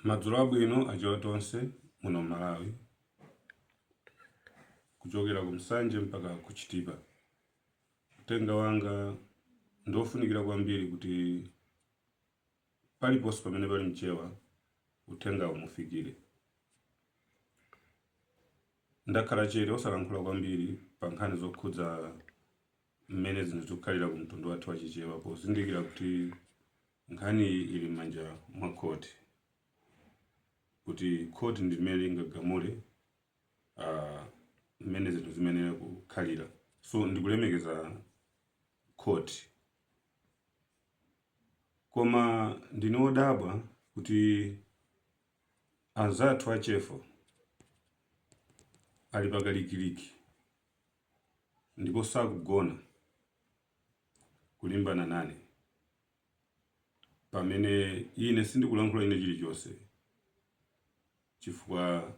Madzulo abwino achewa tonse muno Malawi kuchokera ku Nsanje mpaka ku Chitipa. Uthenga wanga ndi wofunikira kwambiri kuti paliponse pamene pali mchewa uthengawu umufikire. Ndakhala chete osalankhula kwambiri pa nkhani zokhudza mmene zinthu zikukhalira ku mtundu wathu wa Chichewa pozindikira kuti Nkhani ili m'manja mwa khoti kuti khoti ndi limene lingagamule mmene zinthu zimayenera kukhalira. So ndikulemekeza khoti. Koma ndine wodabwa kuti anzathu a Chefo ali pakalikiliki ndipo sakugona kulimbana nane. pamene ine sindikulankhula ine chilichonse, chifukwa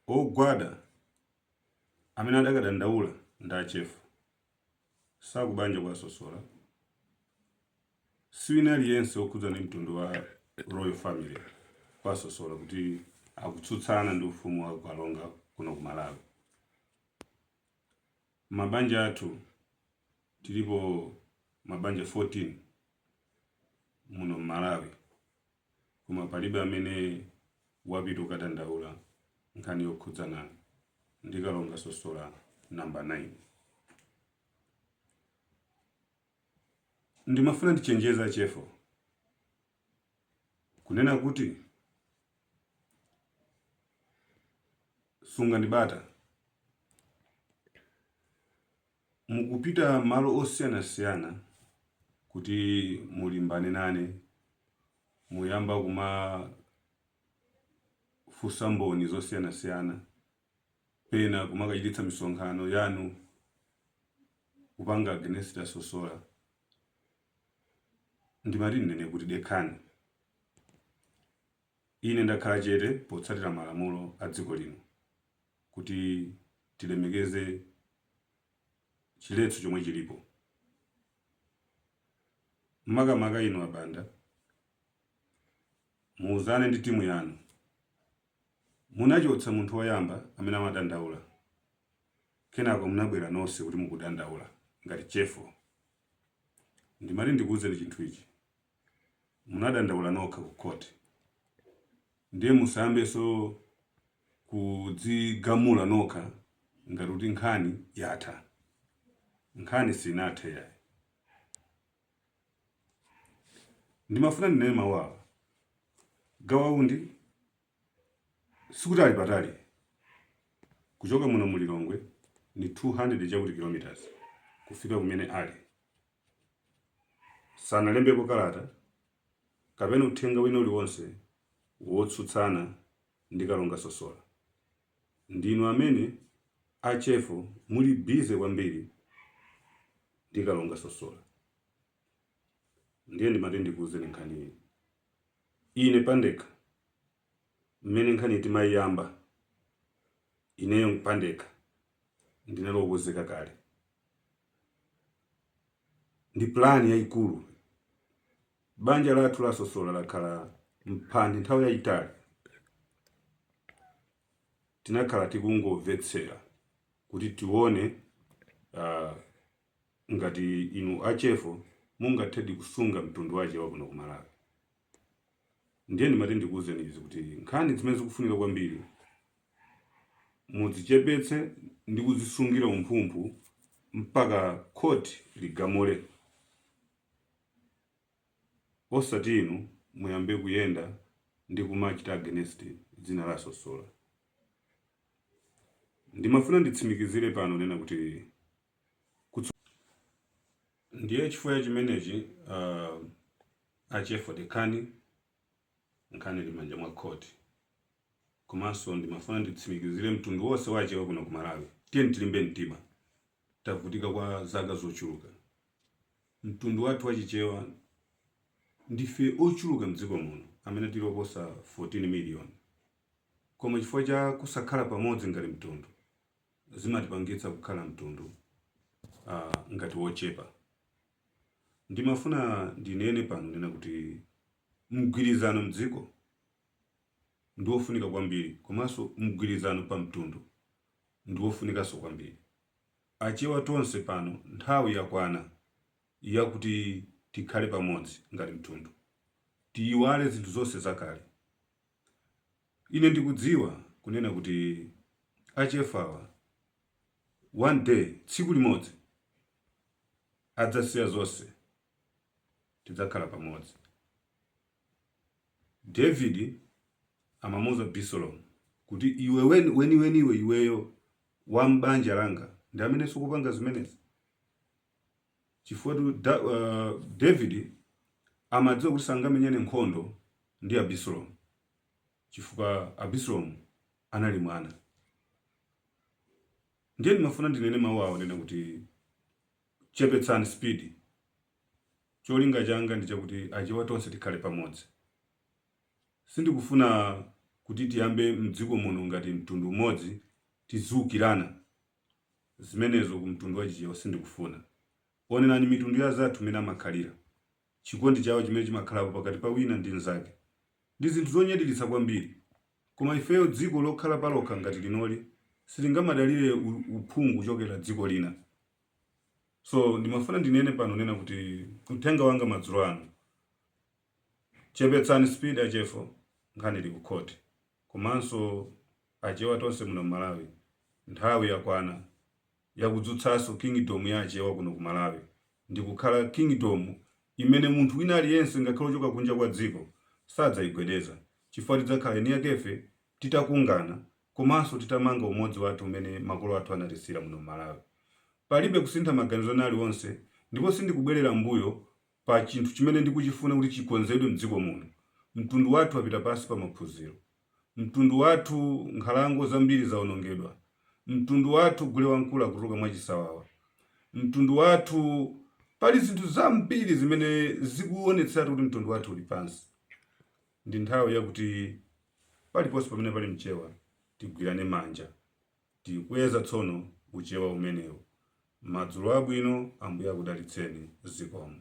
ogwada amene adakadandaula ndi a Chefo si akubanja kwa sosola siwina aliyense okhudza ndi mtundu wa royal family kwa sosola kuti akutsutsana ndi ufumu wa kalonga kuno ku malawi Mabanja athu tilipo mabanja 14 muno mmalawi koma palibe amene wapita kukadandaula nkhani yokhudzana ndi Kalonga Sosola number 9. Ndimafuna ndichenjeze a Chefo. Kunena kuti, Sungani bata. Mukupita malo osiyanasiyana kuti mulimbane nane, muyamba kumafunsa Mboni zosiyanasiyana, pena kumakachititsa misonkhano yanu, kupanga against Sosola. Ndimati ndinene kuti, Dekhani. Ine ndakhala chete potsatira malamulo a dziko lino kuti tilemekeze chiletso chomwe chilipo. Makamaka inu a Banda, muuzane ndi timu yanu. Munachotsa munthu woyamba amene amadandaula kenako munabwera nonse kuti mukudandaula ngati Chefo. Ndimati ndikuuzeni chinthu ichi, munadandaula nokha ku khoti ndiye musayambenso kudzigamula nokha ngati kuti nkhani yatha. Nkhani sinathe yayi. ndimafuna ndinene mawu awa Gawa Undi sikuti ali patali kuchoka muno mu lilongwe ndi 200 chakuti kilometers kufika kumene ali sanalembepo kalata kapena uthenga wina uliwonse wotsutsana ndi kalonga sosola Ndinu amene a Chefu muli busy kwambiri ndi Kalonga Sosola. Ndiye ndimati ndikuuzeni nkhani iyi. Ine pandekha mmene nkhaniyi timaiyamba, ineyo pandekha ndinali okonzeka kale ndi plan yaikulu. Banja lathu la Sosola lakhala m'mphande nthawi yayitali. Tinakhala tikungomvetsera kuti tione uh, ngati inu achefu mungathedi kusunga mtundu wachewa kuno ku Malawi. Ndiye ndimati ndikuwuzeni izi kuti nkhani zimene zikufunika kwambiri mudzichepetse ndi kudzisungira umphumphu mpaka khoti ligamule. Osati inu muyambe kuyenda ndi kumachita against dzina la Sosola. Ndimafuna nditsimikizire pano kunena kuti. Ndiye chifukwa cha chimenechi a Chefu dekhani nkhani ili mmanja mwa court. Komanso ndimafuna nditsimikizire mtundu wonse wa achewa kuno ku Malawi tiyeni tilimbe mtima tavutika kwa zaka zochuluka. Mtundu wathu wa Chichewa ndife ochuluka m'dziko muno amene tili oposa 14 miliyoni. Koma chifukwa cha kusakhala pamodzi ngati mtundu zimatipangitsa kukhala mtundu ngati wochepa. Ndimafuna ndinene pano kunena kuti mgwirizano m'dziko ndi wofunika kwambiri komanso mgwirizano pa mtundu ndi wofunikanso kwambiri. Achewa tonse pano nthawi yakwana yakuti tikhale pamodzi ngati mtundu. Tiyiwale zinthu zonse zakale. Ine ndikudziwa kunena kuti achefuwa one day tsiku limodzi adzasiya zonse tidzakhala pamodzi. David amamuuza Abisalomu kuti iwe weni weniweniwe iweyo wa m'banja langa ndi amene ukupanga zimenezi chifukwatu da, uh, David amadziwa kuti sangamenyane nkhondo ndi Abisalomu chifukwa Abisalomu anali mwana. Ndiye ndimafuna ndinene mawu awa kunena kuti Chepetsani speed. Cholinga changa ndi chakuti achewa tonse tikhale pamodzi. Sindikufuna kuti tiyambe mdziko muno ngati mtundu umodzi tiziukirana. Zimenezo ku mtundu wa chichewa sindikufuna. Onerani mitundu ya anzathu mmene amakhalira. Chikondi chawo chimene chimakhalapo pakati pa wina ndi mzake. Ndi zinthu zonyadilitsa kwambiri. Koma ifeyo dziko lokhala palokha ngati linoli silingamadalire uphungu kuchokera dziko lina. So ndimafuna ndinene pano kunena kuti uthenga wanga madzulo ano, chepetsani speed achefo, nkhani ili ku khoti. Komanso achewa tonse muno m'Malawi, nthawi yakwana yakudzutsanso kingdom ya achewa kuno ku Malawi ndikukhala kingdom imene munthu wina aliyense ngakhale ochoka kunja kwa dziko sadzaigwedeza chifukwa tidzakhala eni yakefe titakungana komanso titamanga umodzi wathu umene makolo athu anatisiyira muno m'Malawi. Palibe kusintha maganizo ena aliwonse ndipo sindikubwerera m'mbuyo pa chinthu chimene ndikuchifuna kuti chikonzedwe m'dziko muno. Mtundu wathu wapita pansi pa maphunziro. Mtundu wathu nkhalango zambiri zaonongedwa. Mtundu wathu gulewamkulu akutuluka mwachisawawa. Mtundu wathu. Pali zinthu zambiri zimene zikuonetseratu kuti mtundu wathu uli pansi. Ndi nthawi yakuti paliponse pamene pali Mchewa tigwirane manja. Tikweza tsono Uchewa umenewu. Madzulo abwino, Ambuye akudalitseni. Zikomo.